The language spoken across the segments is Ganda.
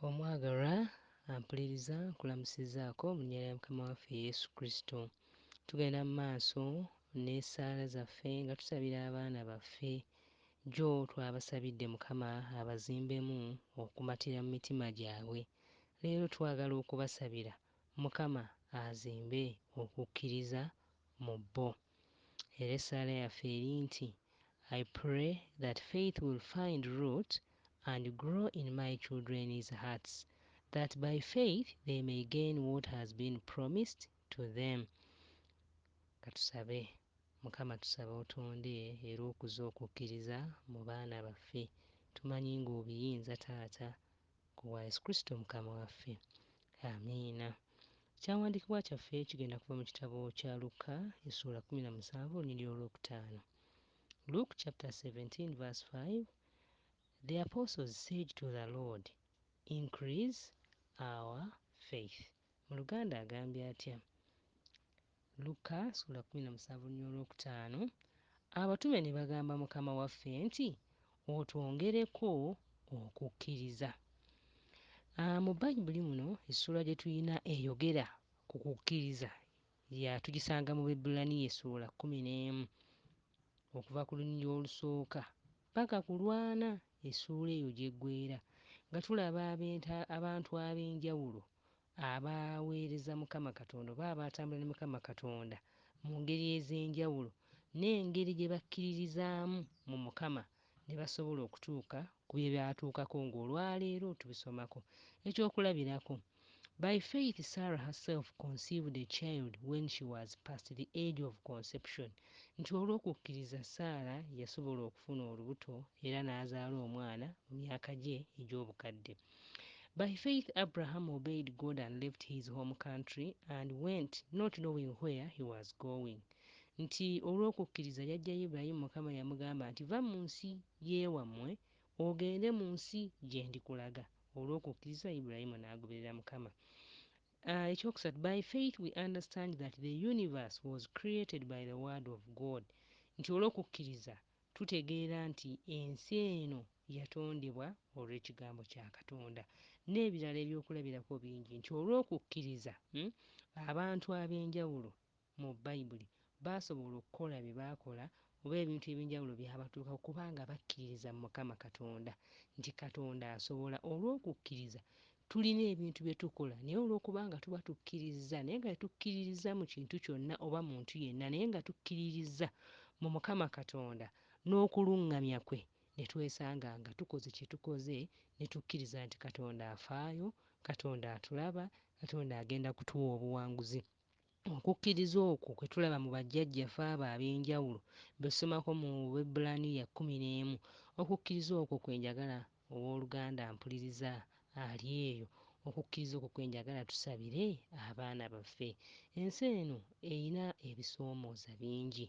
Omwagalwa ampuliriza nkulamusizzaako mu linnya lya Mukama waffe Yesu Kristo. Tugenda mu maaso n'essaala zaffe nga tusabira abaana baffe. Jjo twabasabidde Mukama abazimbemu okumatira mu mitima gyabwe. Leero twagala okubasabira Mukama azimbe okukkiriza mu bo. Era essaala yaffe eri nti, I pray that faith will find root and grow in my children's hearts, that by faith they may gain what has been promised to them. Katusabe. Mukama tusaba otonde era okuze okukkiriza mu baana baffe. Tumanyi ng'obiyinza Taata. Ku bwa Yesu Kristo Mukama waffe. Amiina. Ekyawandiikibwa kyaffe kigenda kuva mu kitabo kya Lukka essuula kkumi na musanvu olunyiriri olwokutaano. Luke chapter 17 verse 5 The apostles said to the Lord, Increase our faith. Mu Luganda agambye atya? Lukka sula kumi na musanvu nya olwokutaano, Abatume ne bagamba Mukama waffe nti, Otwongereko okukkiriza. A Mu Bayibuli muno essuula gye tulina eyogera ku kukkiriza ya tugisanga mu Bebbulaniya essuula kkumi n'emu okuva ku lunyiriri olusooka paka ku lw'ana essuula eyo gy'eggweera nga tulaba abenta abantu ab'enjawulo Abaweereza Mukama Katonda oba abatambula ne Mukama Katonda mu ngeri ez'enjawulo n'engeri gye bakkiririzaamu mu Mukama ne basobola okutuuka ku bye baatuukako ng'olwaleero tubisomako. Eky'okulabirako, By faith Sarah herself conceived a child when she was past the age of conception, nti olw'okukkiriza Saala yasobola okufuna olubuto era n'azaala omwana mu myaka gye egy'obukadde. By faith Abraham obeyed God and left his home country and went not knowing where he was going nti olw'okukkiriza yajjayo Ibrahim Mukama yamugamba nti va mu nsi y'ewamwe ogende mu nsi gyendikulaga olw'okukkiriza Ibrahim n'agoberera Mukama Uh, ekyokusatu by faith we understand that the universe was created by the word of God nti olw'okukkiriza Tutegeera nti ensi eno yatondebwa olw'Ekigambo kya Katonda, n'ebirala eby'okulabirako bingi, nti olw'okukkiriza, abantu ab'enjawulo mu Bayibuli baasobola okukola bye baakola oba ebintu eby'enjawulo byabatuukako kubanga bakkiririza mu Mukama Katonda, nti Katonda asobola, olw'okukkiriza, Tulina ebintu bye tukola naye olw'okuba nga tuba tukkirizza, naye nga tetukkiririzza mu kintu kyonna oba muntu yenna, naye nga tukkiririzza mu Mukama Katonda n'okuluŋŋamya kwe, ne twesanga nga tukoze kye tukoze, ne tukkiriza nti Katonda afaayo, Katonda atulaba, Katonda agenda kutuwa obuwanguzi. Okukkiriza okwo kwe tulaba mu bajjajjafe abo ab'enjawulo be tusomako mu Bebbulaniya kkumi n'emu. Okukkiriza okwo kwe njagala Ow'oluganda mpuliriza, ali eyo, okukkiriza okwo kwe njagala tusabire abaana baffe. Ensi eno erina ebisoomooza bingi.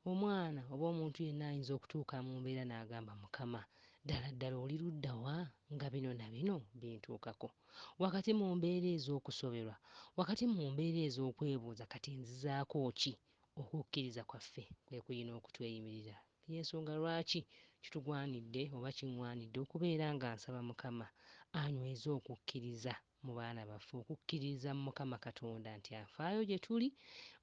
Omwana oba omuntu yenna ayinza okutuuka mu mbeera n'agamba, Mukama, ddala ddala oli ludda wa nga bino na bino bintuukako? Wakati mu mbeera ez'okusoberwa, wakati mu mbeera ez'okwebuuza kati nzizaako ki, Okukkiriza kwaffe kwe kulina okutweyimirira. Y'ensonga lwaki kitugwanidde oba kingwanidde okubeera nga nsaba Mukama anyweze okukkiriza mu baana baffe, okukkiriza mu Mukama Katonda nti afaayo gye tuli,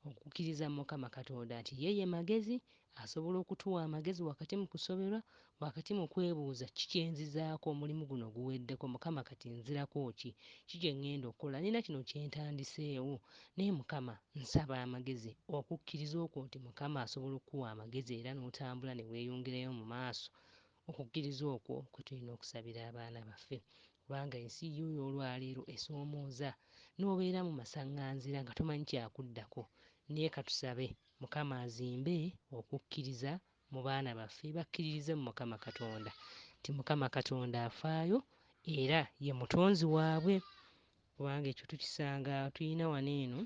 okukkiriza mu Mukama Katonda nti ye ye magezi, asobola okutuwa amagezi wakati mu kusoberwa, Wakati mu kwebuuza ki kye nzizaako omulimu guno guweddeko, Mukama kati nzirako ki? Ki kye ŋŋenda okukola? Nnina kino kye ntandiseewo. Naye Mukama, nsaba amagezi, okukkiriza okwo nti Mukama asobola okukuwa amagezi era n'otambula ne weeyongerayo mu maaso, okukkiriza okwo kwe tulina okusabira abaana baffe. Kubanga ensi y'oyo olwaleero esoomooza, n'obeera mu masaŋŋanzira nga tomanyi kya kuddako. Naye ka tusabe, Mukama azimbe okukkiriza mu baana baffe bakkiririze mu Mukama Katonda nti Mukama Katonda afaayo era ye mutonzi waabwe kubanga ekyo tukisanga tulina wano eno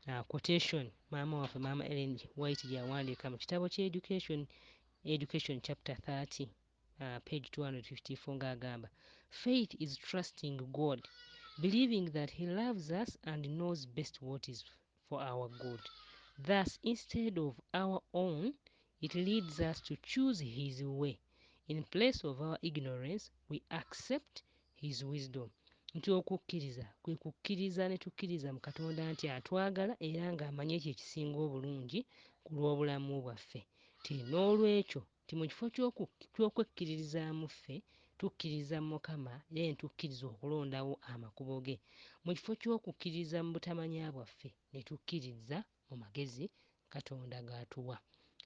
uh, quotation maama waffe maama Ellen White gyawandiika mu kitabo kya education education chapter 30 uh, page 254 ng'agamba faith is trusting God believing that he loves us and knows best what is for our good thus instead of our own it leads us to choose his way in place of our ignorance we accept his wisdom nti okukkiriza kwe kukkiriza ne tukkiriza mu katonda nti atwagala era ng'amanyi ekyo ekisinga obulungi ku lw'obulamu bwaffe ti n'olwekyo Nti mu kifo ky'okwekkiririzaamu ffe, tukkiririza mu Mukama, era ne tukkiriza okulondawo amakubo ge. Mu kifo ky'okukkiririza mu butamanya bwaffe, ne tukkiririza mu magezi Katonda g'atuwa.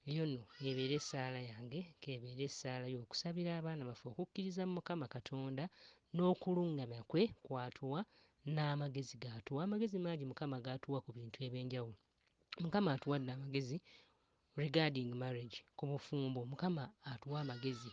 Eyo nno y'ebeere essaala yange, k'ebeere essaala yo, okusabira abaana baffe okukkiriza mu Mukama Katonda n'okulungamya kwe kw'atuwa, n'amagezi g'atuwa. Amagezi mangi Mukama g'atuwa ku bintu eby'enjawulo. mukama atuwadde amagezi regarding marriage ku bufumbo mukama atuwa amagezi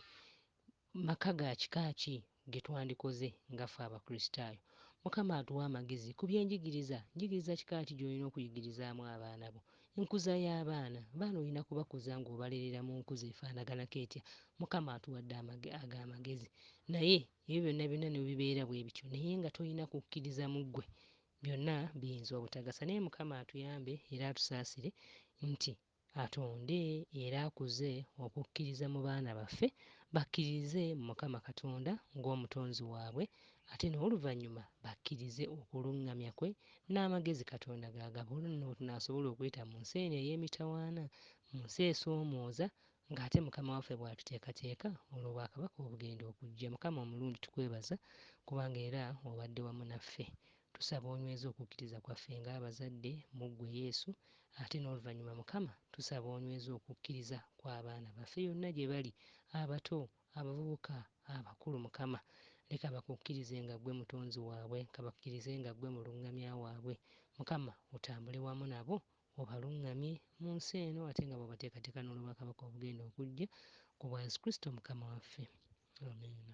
maka ga kika ki getwandikoze nga fe abakristaayo mukama atuwa amagezi ku byenjigiriza njigiriza kika ki gyolina okuyigirizaamu abaana bo enkuza y'abaana baana olina kubakuza ng'obalerera mu nkuza efaanaganako etya mukama atuwadde ago amagezi naye ebyo byonna byonna nebibeera bwe bityo naye nga tolina kukkiriza mu ggwe Byonna biyinza obutagasa naye Mukama atuyambe era atusaasire nti atonde era akuze okukkiriza mu baana baffe bakkiririze mu Mukama Katonda ng'omutonzi waabwe ate n'oluvannyuma bakkirize okulungamya kwe n'amagezi Katonda g'agaba olwo nno wetunaasobola okuyita mu nsi eno ey'emitawaana, mu nsi esoomooza Nga ate Mukama waffe bw'atuteekateeka olw'Obwakabaka obugenda okujja. Mukama omulungi tukwebaza kubanga era obadde wamu naffe. Tusaba onyweze okukkiriza kwaffe nga abazadde mu ggwe Yesu ate n'oluvannyuma Mukama tusaba onyweze okukkiriza kw'abaana baffe yonna gye bali, abato, abavubuka, abakulu Mukama. Leka bakukkirize nga ggwe mutonzi waabwe, kabakkirize nga ggwe mulungamya waabwe. Mukama otambule wamu nabo obalungamye mu nsi eno ate nga bw'obateekateeka n'olw'obwakabaka obugenda okujja, ku bwa Yesu Kristo Mukama waffe. Amiina.